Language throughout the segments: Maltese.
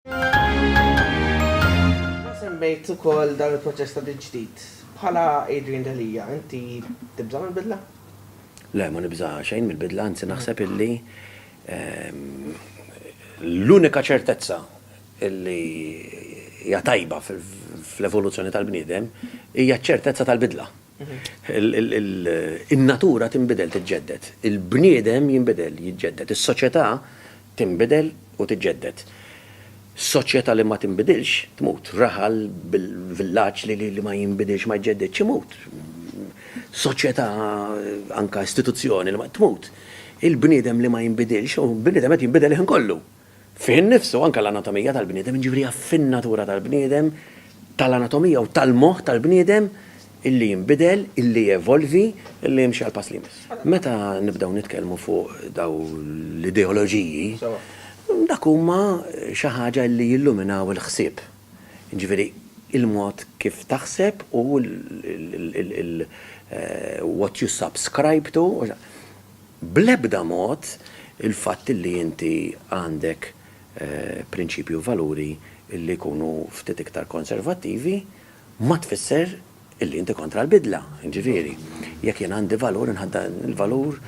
Inti semmejt ukoll dan il-proċess ta' tiġdid. Bħala Adrian Delia, inti tibża' mill-bidla? Le, ma nibża' xejn mill-bidla, anzi naħseb illi l-unika ċertezza illi hija tajba fl-evoluzzjoni tal-bniedem hija ċ-ċertezza tal-bidla. In-natura tinbidel, tiġġedded. Il-bniedem jinbidel, jiġġedded. Is-soċjetà tinbidel u tiġġedded. Soċjetà li ma tinbidilx tmut. Raħal, villaġġ li ma jinbidilx, ma jġġeddidx, imut. Soċjetà, anke istituzzjoni li ma, tmut. Il-bniedem li ma jinbidilx, u l-bniedem qed jinbidel il-ħin kollu. fih innifsu anke l-anatomija tal-bniedem, jiġifieri jaf fin-natura tal-bniedem, tal-anatomija u tal-moħħ tal-bniedem illi jinbidel, illi jevolvi, illi jimxi għall-pass li jmiss. Meta nibdew nitkellmu fuq daw l-ideoloġiji, dak huma xi ħaġa illi jilluminaw il-ħsieb, jiġifieri il-mod kif taħseb u l-what you subscribe to, Bl-ebda mod il-fatt li inti għandek prinċipji u valuri li jkunu ftit iktar konservattivi ma tfisser li inti kontra l-bidla. Jiġifieri, jekk jien għandi valur inħadd dan il-valur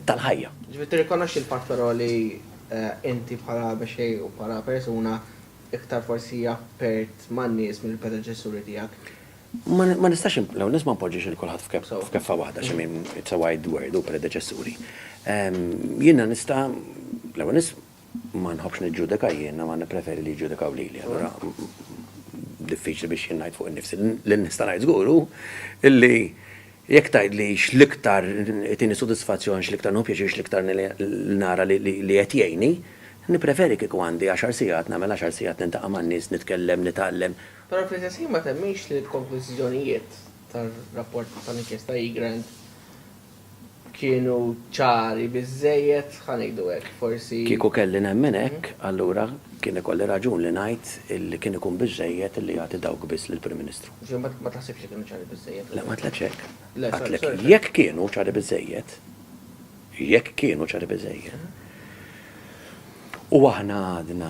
tal-ħajja. Jiġifieri tirrikonoxxi l-fatt però li inti bħala mexxej u bħala persuna iktar forsi appert man-nies mill-predeċessuri tiegħek? Ma nistax l-ewwel nett ma npoġġix il kulħadd f'keffa waħda xi min it's a wide word u predeċessuri. Jiena nista' l-ewwel nett ma nħobbx niġġudika jiena ma nippreferi li jiġġudikaw lili. Allura diffiċli biex jien ngħid fuq innifsi. Li nista' ngħid żgur hu illi jekk tgħidli x'l-iktar itini sodisfazzjon, x'l-iktar nieħu pjaċir, x'l-iktar nara li qed jgħinni, nippreferi kieku għandi għaxar sigħat nagħmel għaxar sigħat nintaqa' man-nies, nitkellem, nitgħallem, Però fl-istess ħin ma temminx li l-konklużjonijiet tar-rapport tal-inkjesta Egrant kienu ċari biżżejjed, ħa ngħidu hekk, forsi. Kieku kelli nemmen hekk, allura kien ikolli raġun li ngħid li kien ikun biżżejjed li jagħti dawk biss lill-Prim Ministru. Ġifieri ma taħsibx li kienu ċari biżżejjed? Le, ma għedtlekx hekk. Għedtlek jekk kienu ċari biżżejjed, jekk kienu ċari biżżejjed, u aħna għadna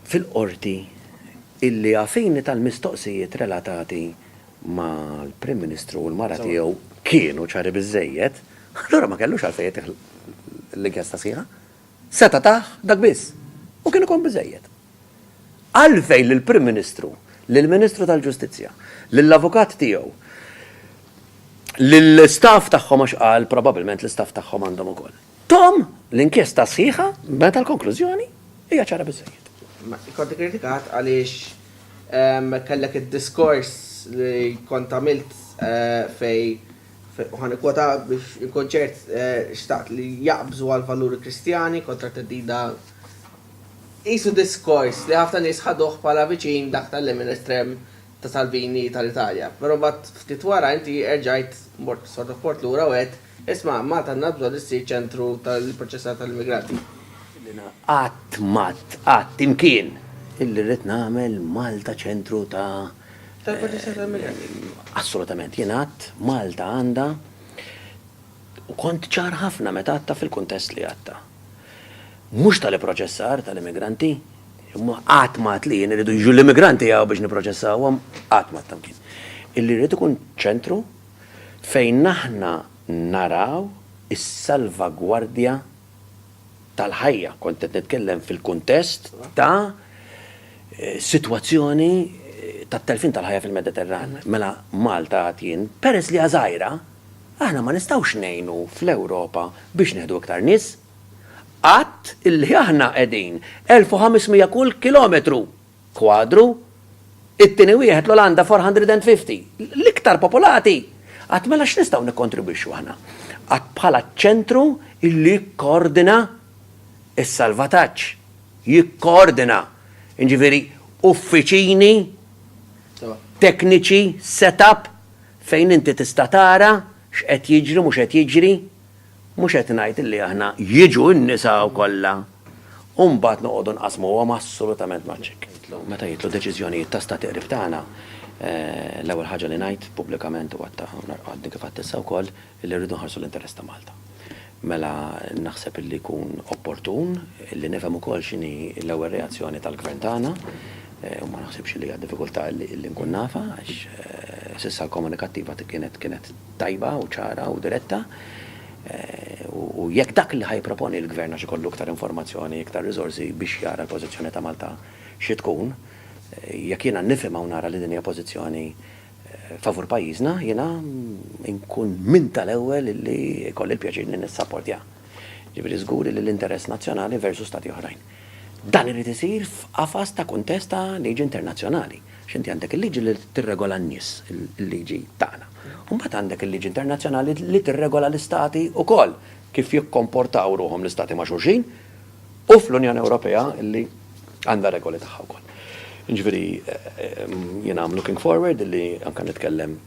fil-Qorti illi għafini tal-mistoqsijiet relatati mal-Prim Ministru u l-mara tiegħu kienu ċari biżżejjed, allura ma kellux għalfejn jagħtih l-inkjesta sħiħa. Seta' tah dak biss, u kien ikun biżżejjed. Għalfejn lill-Prim Ministru, lill-Ministru tal-Ġustizzja, lill-avukat tiegħu, lill-istaff tagħhom għax qal probabbilment l-istaff tagħhom għandhom ukoll. Tom, l-inkjesta sħiħa, meta l-konklużjoni hija ċara biżżejjed. Kont ikkritikat għaliex kellek id-diskors li kont għamilt fejn, u ħa nikkwota biex inkun ċert, xtaqt li jaqbżu għall-valuri Kristjani kontra t-theddida. Qisu diskors li ħafna nies ħaduh bħala viċin dak tal-lemin estrem ta' Salvini tal-Italja. Però mbagħad ftit wara inti erġajt mort sodoport lura u għedt Isma', Malta għandna bżonn issir ċentru tal-ipproċessar tal-immigranti. Jiena qatt m'għadt, qatt, imkien, illi rrid nagħmel Malta ċentru ta'. Tal-ipproċessar tal-immigranti. Assolutament. Jien għadt, Malta għandha, u kont ċar ħafna meta għadtha fil-kuntest li għadtha. Mhux tal-ipproċessar tal-immigranti, imma qatt m'għadt li jien irridu jiġu l-immigranti hawn biex nipproċessawhom, qatt m'għadt imkien. Illi rrid ikun ċentru. fejn aħna naraw is-salvagwardja tal-ħajja. Kont qed nitkellem fil-kuntest ta' sitwazzjoni tat-telfien tal-ħajja fil-Mediterran. Mela Malta għad jien, peress li hija żgħira, aħna ma nistgħux ngħinu fl-Ewropa biex nieħdu iktar nies. Għad illi aħna qegħdin 1,500 kull kilometru kwadru, it-tieni wieħed l-Olanda 450. L-iktar popolati! Għad mela x'nistgħu nikkontribwixxu aħna? Għad bħala ċ-ċentru illi jikkoordina s-salvataġġ, jikkoordina, jiġifieri uffiċini tekniċi, set-up fejn inti tista' tara x'qed jiġri, mhux qed jiġri, Mhux qed ngħid illi aħna jiġu n-nisa kollha u mbagħad noqogħdu nqassmuhom assolutament maċ-Ċek. Meta jitlu deċiżjonijiet ta' stati qrib tagħna, l-ewwel ħaġa li ngħid pubblikament u għadtha għadni kif għedt issa wkoll illi rridu nħarsu l-interess ta' Malta. Mela naħseb illi jkun opportun illi nifhem ukoll x'inhi l-ewwel reazzjoni tal-Gvern tagħna u ma naħsibx illi hija diffikultà illi nkun nafha għax s'issa l-komunikattiva kienet kienet tajba u ċara u diretta u jekk dak li ħa jipproponi l-Gvern għax ikollu iktar informazzjoni, iktar riżorsi biex jara l-pożizzjoni ta' Malta xi tkun, jekk jiena nifhimha u nara li din hija pożizzjoni favur pajjiżna, jiena nkun minn tal-ewwel li jkolli l-pjaċir li nissapportjah. Jiġifieri żgur li l-interess nazzjonali versu Stati oħrajn. Dan irid isir f'qafas ta' kuntest ta' liġi internazzjonali. Għax inti għandek il-liġi li tirregola n-nies, il-liġi tagħna, u mbagħad għandek il-liġi internazzjonali li tirregola l-istati wkoll, kif jikkomportaw ruħhom l-istati ma' xulxin, u fl-Unjoni Ewropea li għandha r-regoli tagħha wkoll. Jiġifieri jiena I'm looking forward li anke nitkellem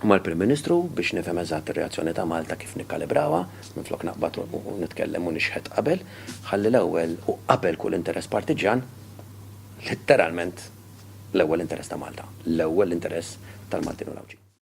mal-Prim Ministru biex nifhem eżatt ir-reazzjoni ta' Malta kif nikkalibrawha, minflok naqbad u nitkellem u nixħet qabel, ħalli l-ewwel u qabel kull interess partiġġjan, letteralment l-ewwel interess ta' Malta, l-ewwel interess tal-Maltin u l-Għawdxin.